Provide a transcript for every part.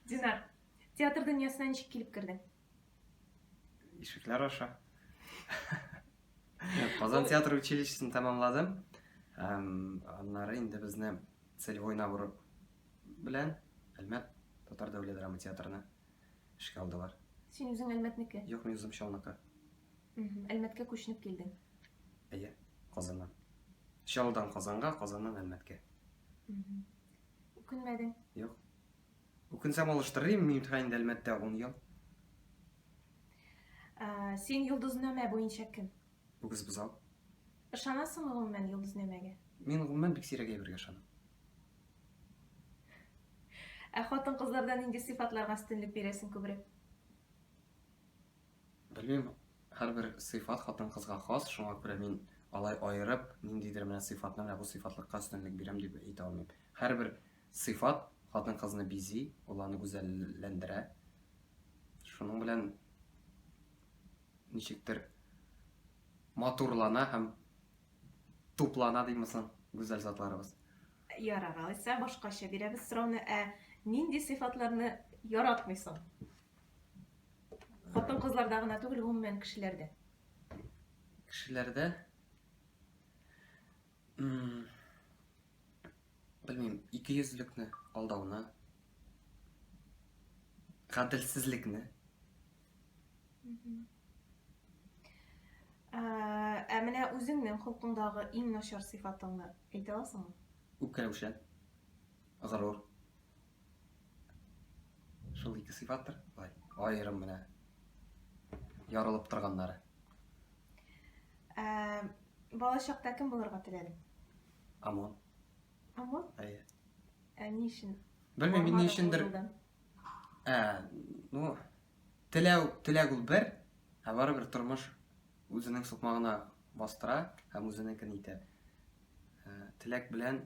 Динар, театр дөньясына ничек килеп кердең? Ишекләр аша. Казан театр училищесын тәмамладым. Аннары инде безне целевой набор белән Әлмәт татар дәүләт драма театрына эшкә алдылар. Син үзең Әлмәтнеке? Юк, мин үзем Чалныкы. Әлмәткә күченеп килдең? Әйе, Казаннан. Чалдан Казанга, Казаннан Әлмәткә. Үкенмәдең? Юк. Үкенсәм алыштырыр идем, мин утыра инде Әлмәттә 10 ел. Ә, син йолдызнамә буенча кем? Үгез бозау. Ышанасыңмы гомумән йолдызнамәгә? Мин гомумән бик сирәк әйбергә ышанам. Ә хатын-кызларда нинди сыйфатларга өстенлек бирәсең күбрәк? Белмим, һәрбер сыйфат хатын-кызга хас, шуңа күрә мин алай аерып, ниндидер менә сыйфатны менә бу сыйфатлыкка өстенлек бирәм дип әйтә алмыйм. Һәрбер сыйфат хатын-кызны бизи, ул аны гүзәлләндерә. Шуның белән ничектер матурлана һәм туплана димме соң гүзәл затларыбыз. Ярар, алайса башкача бирәбез сорауны, ә нинди сыйфатларны яратмыйсың? Хатын кызларда гына түгел, гомумән кешеләрдә. Кешеләрдә белмим, икейөзлекне, алдауны, гаделсезлекне. Ә менә үзеңнең холкыңдагы иң начар сыйфатыңны әйтә аласыңмы? Үпкәләүчән, горур, Шул ике сыйфаттыр, былай, аерым менә ярылып торганнары. Ә, бала чакта кем булырга теләдең? Амон. Амон? Әйе. Ә ни өчен? Белмим, ни өчендер. Ә, ну, теләү, теләк ул бер, ә барыбер тормыш үзенең сукмагына бастыра һәм үзенекен итә. Ә, теләк белән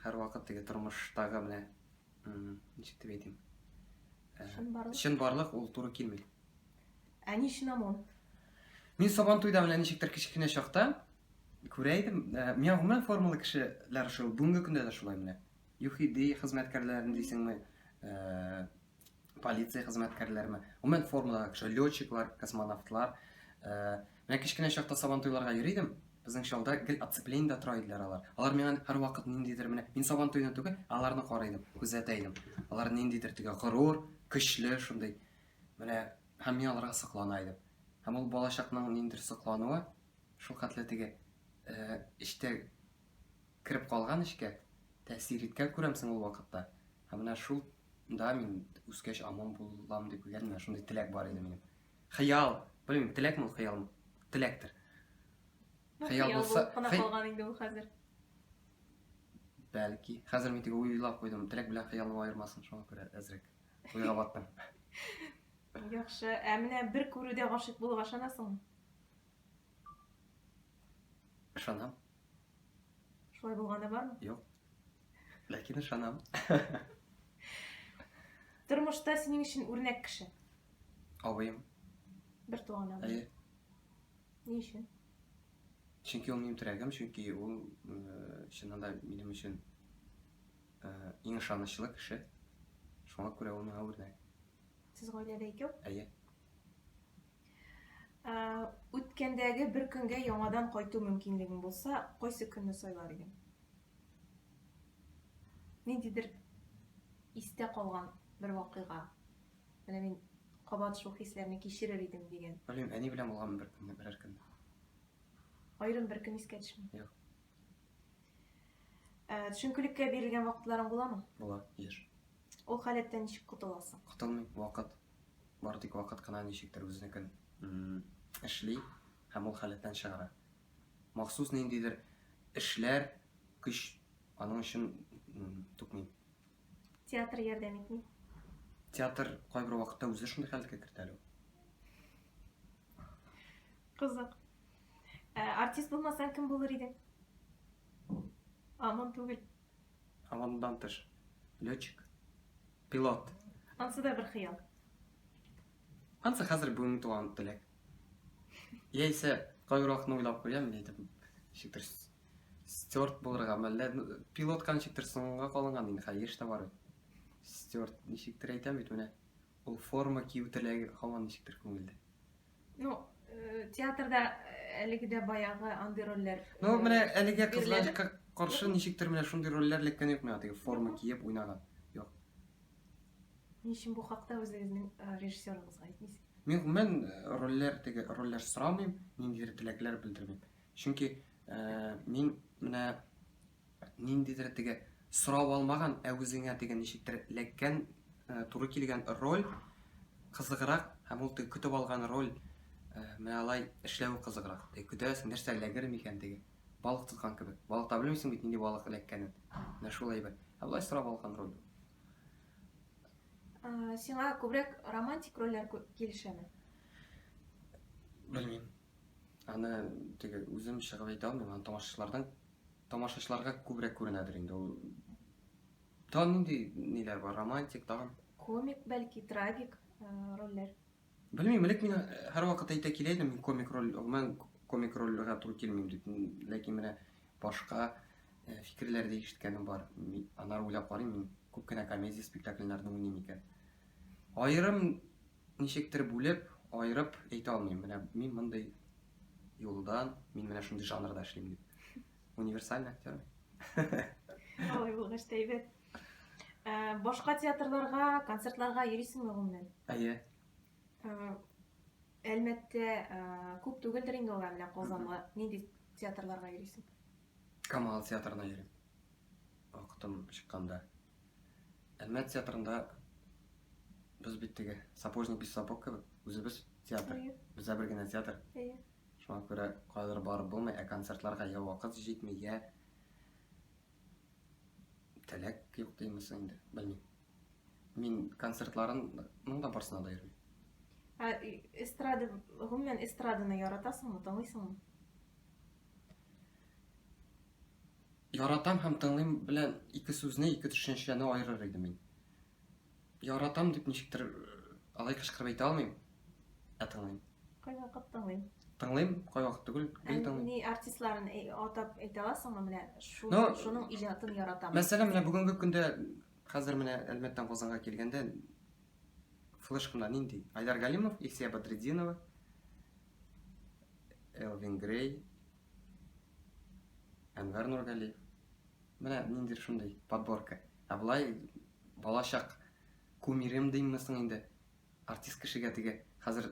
Һәрвакыт теге тормыштагы менә ничек дип әйтим? Э, чынбарлык. Чынбарлык ул туры килми. Ә ни өчен ОМОН? Мин Сабан туйда менә ничектер кечкенә чакта күрә идем. Э, миңа гомумән формалы кешеләр шул, бүгенге көндә дә шулай менә. ЮХИДИ хезмәткәрләрен дисеңме, э, полиция хезмәткәрләрме, гомумән формадагы кеше, летчиклар, космонавтлар. Э, менә кечкенә чакта сабантуйларга йөри идем, безнең чалда гел отцеплениедә тора иделәр алар. Алар миңа һәрвакыт ниндидер менә мин сабантуйны түгел, аларны карый идем, күзәтә идем. Алар ниндидер теге горур, көчле шундый. Менә һәм мин аларга соклана идем. Һәм ул балачакның ниндидер соклануы шул хәтле теге э, эчтә Кереп калган эчкә, тәэсир иткән күрәмсең ул вакытта. Һәм менә шул да мин үскәч аман булам дип уйлыйм, менә шундый теләк бар иде минем. Хыял, белмим, теләкме ул, хыялмы? Теләктер. Ну, хыял булса, кына калган инде ул хәзер. Бәлки. Хәзер мин теге уйлап куйдым, теләк белән хыялны аермасын, шуңа күрә әзрәк уйга баттым. Яхшы, ә менә бер күрүдә гашыйк булуга ышанасыңмы? Ышанам. Шулай булганы бармы? Юк. Ләкин ышанам. Тормышта синең өчен үрнәк кеше. Абыем. Бер туган абый. Әйе. Ни өчен? Чөнки ул минем терәгем, чөнки ул э, чыннан да минем өчен э, иң ышанычлы кеше. Шуңа күрә ул миңа үрнәк. Сез гаиләдә икәү? Әйе. Ә, үткәндәге бер көнгә яңадан кайту мөмкинлегең булса, кайсы көнне сайлар идең? Ниндидер истә калган бер вакыйга. Менә мин кабат шул хисләрне кичерер идем дигән. Белмим, әни белән булган бер көнне, берәр көн. Аерым бер көн искә төшми. Юк. Ә, төшенкелеккә бирелгән вакытларың буламы? Була, еш. Ул халәттән ничек котыласың? Котылмыйм, вакыт. Бары тик вакыт кына ничектер үзенекен эшли һәм ул халәттән чыгара. Махсус ниндидер эшләр, көч аның өчен түкмим. Театр ярдәм итми. Театр кайбер вакытта үзе шундый хәлгә кертә әле. Кызык. Ә, артист булмасаң кем булыр идең? Амон түгел. А мондан тыш, летчик, пилот. Ансы да бер хыял. Ансы хәзер бүгенге туган теләк. Яисә кайракны уйлап куям, әйтеп, шиктер стюарт булырга, мәллә пилотканы шиктер соңга калынган инде, хәзер еш та бар бит. Стюарт ничектер әйтәм бит менә. Ул форма кию теләге һаман ничектер күңелдә. Ну, э, театрда э, әлеге дә баягы андый рольләр. Ну, э, менә әлегә кызганычка каршы ничектер менә шундый рольләр эләккән юк миңа, теге форма киеп уйнаган. Юк. Ни өчен бу хакта үзегезнең э, режиссерыгызга әйтмисез? Мин гомумән э, рольләр теге рольләр сорамыйм, ниндидер теләкләр белдермим. Чөнки э, мин менә Ниндидер теге сорап алмаган, ә үзеңә теге ничектер эләккән, туры килгән роль кызыграк һәм ул теге көтеп алган роль менә алай эшләве кызыграк. Теге көтәсең, нәрсә эләгер микән теге? Балык тоткан кебек. Балыкта белмисең бит нинди балык эләккәнен. Менә шул әйбер. Ә болай сорап алган роль. Сиңа күбрәк романтик рольләр килешәме? Белмим. Аны теге үзем чыгып әйтә алмыйм, аны тамашачылардан тамашачыларга күбрәк күренәдер инде ул. Тагын нинди ниләр бар? Романтик тагын? Комик, бәлки, трагик э, рольләр. Белмим, элек мин һәрвакыт әйтә килә идем, мин комик роль, мен комик рольгә туры килмим дип. Ләкин менә башка э, фикерләр дә ишеткәнем бар. Мин анар уйлап карыйм, мин күп кенә комедия спектакльләрдә уйныйм икән. Аерым Ничектер бүлеп, аерып әйтә алмыйм, менә мин мондый юлдан, мин менә шундый жанрда эшлим дип. Универсальный актер. Алай булгач та әйбәт. Э, башка театрларга, концертларга йөрисеңме гомумән? Әйе. Э, Әлмәттә э, күп түгелдер инде алар менә Казанга. Нинди театрларга йөрисең? Камал театрына йөрим, вакытым чыкканда. Әлмәт театрында без бит теге сапожник без сапог кебек, үзебез театр. Бездә бер генә театр. Шуңа күрә кайдыр барып булмый, ә концертларга я вакыт җитми, я теләк юк димесең инде, белмим. Мин концертларының да барсына да йөрмим. Ә эстрада, гомумән эстраданы яратасыңмы, тыңлыйсыңмы? Яратам һәм тыңлыйм белән ике сүзне, ике төшенчәне аерыр иде мин. Яратам дип ничектер алай кычкырып әйтә алмыйм, ә тыңлыйм. Кайвакыт тыңлыйм. Тыңлыйм, кайвакыт түгел, гел тыңлыйм. Ни артистларын атап әйтә аласыңмы менә шуның, ну, шуның иҗатын яратам. Мәсәлән, менә бүгенге көндә хәзер менә Әлмәттән Казанга килгәндә флешкамда нинди? Айдар Галимов, Илсия Бадретдинова, Элвин Грей, Әнвәр Нургалиев. Менә нинди шундый подборка. Ә былай балачак кумирем дейммесең инде артист кешегә теге хәзер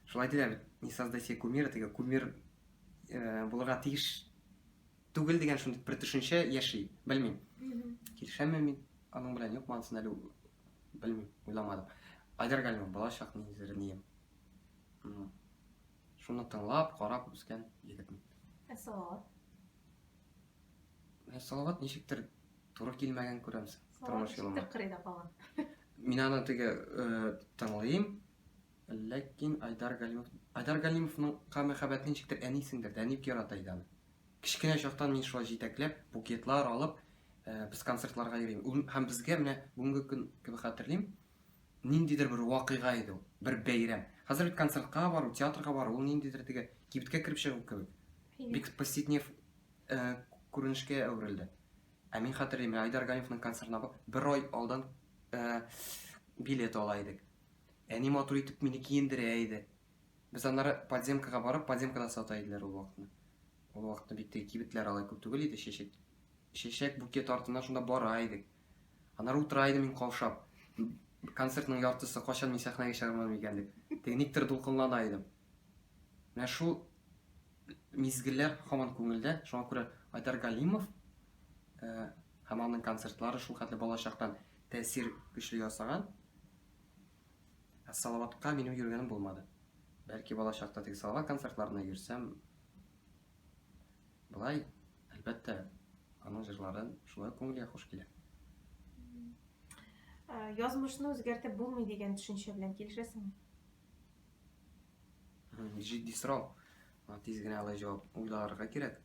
шулай диләр бит не создай себе кумира теге кумир э, булырга тиеш түгел дигән шундый бер төшенчә яши белмим килешәмме мин аның белән юкмы анысын әле белмим уйламадым айдар галимов балачак низернием Шуны тыңлап, карап үскән егетмен. Ә Салават? Ә Салават ничектер туры килмәгән күрәмсең. Тормыш юлыма. Салават кырыйда калган. Мин аны теге э, тыңлыйм, ләкин Айдар Галимов Айдар Галимовның ка мәхәббәтен ничектер әнисеңдер, әни бик ярата иде аны. Кечкенә чактан мин шулай җитәкләп, букетлар алып, э, без концертларга йөрим. Һәм безгә менә бүгенге көн кебек хәтерлим, ниндидер бер вакыйга иде ул, бер бәйрәм. Хәзер бит концертка бару, театрга бару, ул ниндидер теге кибеткә кереп чыгу кебек. Бик повседнев э, күренешкә әверелде. Ә мин хәтерлим, Айдар Галимовның концертына бер ай алдан э, билет ала идек. Әни матур итеп мине киендерә иде. Без аннары подземкага барып, подземкада сата иделәр ул вакытны. Ул вакытта бит теге кибетләр алай күп түгел иде, чәчәк чәчәк букет артына шунда бара идек. Аннары утыра идем мин каушап. Концертның яртысы качан мин сәхнәгә чыгармадым икән дип. Теге никтер дулкынлана идем. Менә шул мизгелләр һаман күңелдә. Шуңа күрә Айдар Галимов э, һәм аның концертлары шул хәтле балачактан тәэсир көчле ясаган. Ә Салаватка минем йөргәнем булмады. Бәлки балачакта теге Салават концертларына йөрсәм, Болай, әлбәттә, аның җырлары шулай күңелгә хуш килә. Язмышны үзгәртеп булмый дигән төшенчә белән килешәсеңме? Җитди сорау. Тиз генә алай җавап уйларга кирәк.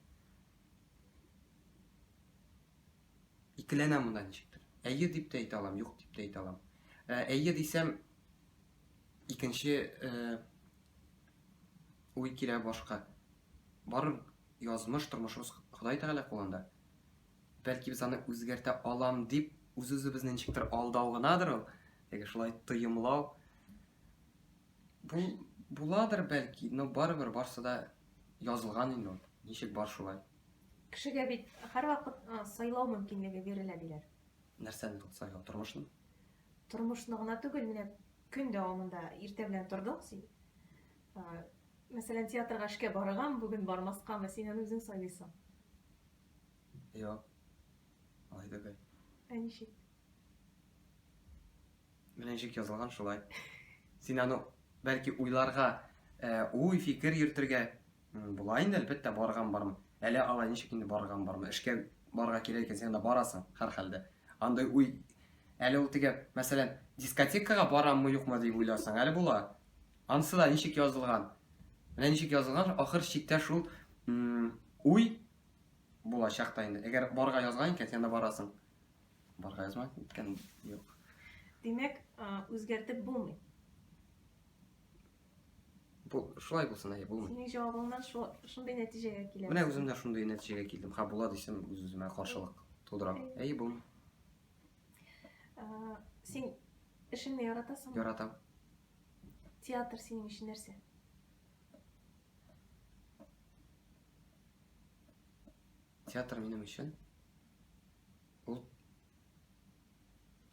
Икеләнәм монда ничектер. Әйе дип тә әйтә алам, юк дип тә әйтә алам. Әйе дисәм, икенче Уй килә башка. Барыр язмыш, тормышыбыз Ходай Тәгалә кулында. Бәлки без аны үзгәртә алам дип үз-үзебезне ничектер алдау гынадыр ул, яки шулай тоемлау. Бу буладыр бәлки, но барыбер барсы да язылган инде ул. Ничек бар шулай. Кешегә бит һәрвакыт сайлау мөмкинлеге бирелә диләр. Нәрсәне тот сайлау, тормышны? Тормышны гына түгел, менә көн дәвамында иртә белән тордың син, Мәсәлән, театрга эшкә барыргамы, бүген бармаскамы, син аны үзең сайлыйсың. Юк. Алай түгел. Ә ничек? Менә ничек язылган шулай. Син аны бәлки уйларга, уй, фикер йөртергә була инде, әлбәттә, барыргамы, бармы. Әле алай ничек инде барыргамы, бармы. Эшкә барырга кирәк икән, син анда барасың, һәрхәлдә. Андый уй, әле ул теге, мәсәлән, дискотекага бараммы, юкмы дип уйларсың, әле була. Анысы да ничек язылган? Менә ничек язылган, ахыр чиктә шул уй булачак та инде. Әгәр барга язган икән, син анда барасың. Барга язмай икән, юк. Димәк, үзгәртеп булмый. Бу шулай булсын, әйе, булмый. Синең җавабыңнан шундый нәтиҗәгә киләм. Менә үзем дә шундый нәтиҗәгә килдем. Ха була дисем, үз-үземә каршылык тудырам. Әйе, булмый. Син эшеңне яратасыңмы? Яратам. Театр синең өчен нәрсә? Театр минем өчен ул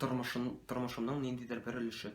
тормышым, тормышымның ниндидер бер өлеше.